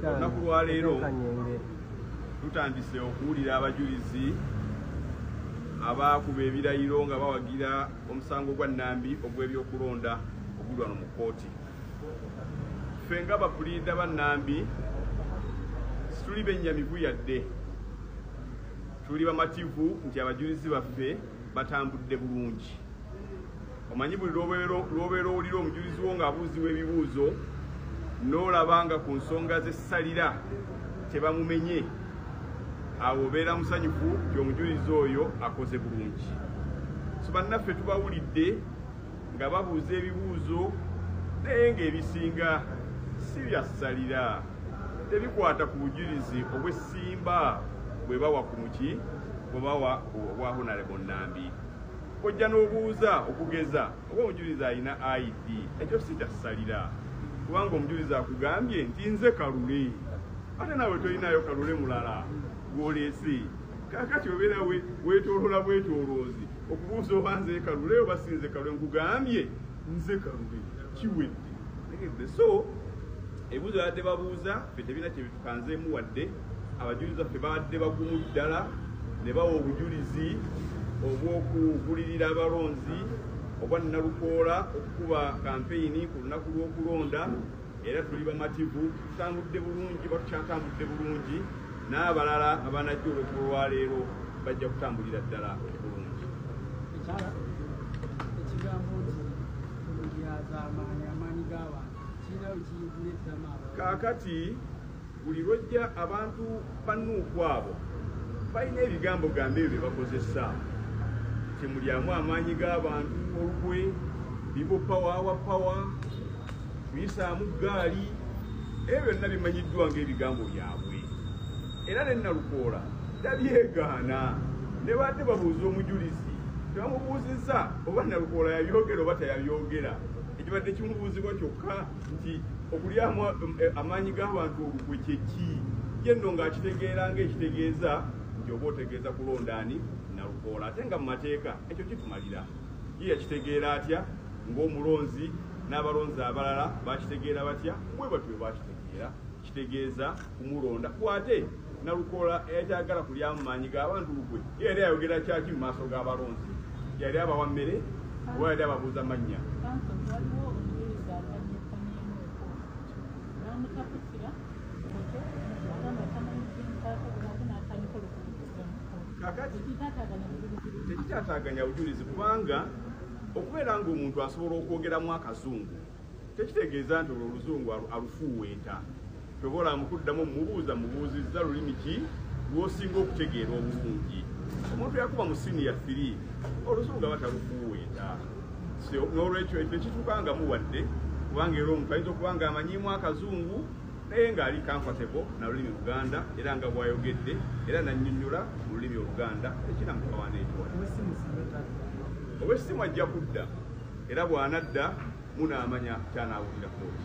olunaku lwaleero tutandise okuwulira abajulizi abaakuba ebirayiro nga bawagira omusango gwa nambi ogw'ebyokulonda oguli wano mu kkooti ffe nga bapuliida ba nambi situli bennyamivu yadde tuli bamativu nti abajulizi baffe batambudde bulungi omanyi buli lwobeera owulira omujulizi wo ng'abuuziwa ebibuuzo n'olaba nga ku nsonga zessalira tebamumenye awo obeera musanyufu nti omujulizi oyo akoze bulungi so bannaffe tubawulidde nga babuuza ebibuuzo naye ng'ebisinga si byassalira tebikwata ku bujulizi obw'essimba bwe bawa ku muki bwe bawa obwa honalebo nnambi ojja n'obuuza okugeza oba omujulizi alina id ekyo si kyasalira kubanga omujulizi akugambye nti nze kalule ate naawe tolinayo kalule mulala gwolese kakati obeera wetolola bwetoloozi okubuuza oba nze kalule oba si nze kalule nkugambye nze kalule kiwedde so ebuuzo yadde babuuza fe tebina kanzeemu wadde abajulizi baffe babadde bagumu ddala ne bawa obujulizi obw'okugulirira abalonzi obwa nnalukoola okukuba kampeyini ku lunaku lw'okulonda era tuli bamativu tutambudde bulungi batukyatambudde bulungi n'abalala abanajja olwekuba olwaleero bajja kutambulira ddala bulungi ekigambo nti amaanyi g'abantu kaakati buli lwojja abantu bannuuku abo balina ebigambo gambe ebyo byebakozesa kyemulyamu amaanyi g'abantu olukwe bibo pawa awa pawa kuyisaamu ggaali ebyo byonna bimanyiddwa ng'ebigambo byabwe era ne nalukoola tabyegaana ne baadde babuuza omujulizi tebamubuuzizza oba nalukoola yabyogera oba teyabyogera ekibadde kimubuuzibwa kyokka nti okulyamu eh, amaanyi g'abantu olukwe kyeki ye nno ng'akitegeera ng'ekitegeeza nti oba otegeeza kulonda ani nalukoola ate nga mu mateeka ekyo kitumalira ye yakitegeera atya ng'omulonzi n'abalonzi abalala bakitegeera batya bwe batyo bakitegeera kitegeeza kumulonda kwate nalukoola eyatagala kulya mu maanyi g'abantu lukwe yali ayogera kyaki mu maaso g'abalonzi yali abawa mmere oba yali ababuuza mannya kakati tekitataganya bujulizi kubanga okubeera ng'omuntu asobola okwogeramu akazungu tekitegeeza nti olwo oluzungu alufuuweeta kyoba olamu kuddamu mubuuza mubuuzizza lulimi ki lwosinga okutegeera obulungi omuntu yakuba mu siniya firi oluzungu aba talufuuweeta n'olwekyo ekyo ekituukangamu wadde kubanga era omuntu ayinza okuba nga amanyiimu akazungu naye ng'ali comfortable na lulimi luganda era nga bwayogedde era nannyonnyola mu lulimi oluganda ekinamukawana ekiwa ow'essimu ajja kudda era bw'anadda munaamanya ky'anaawulira kkooti.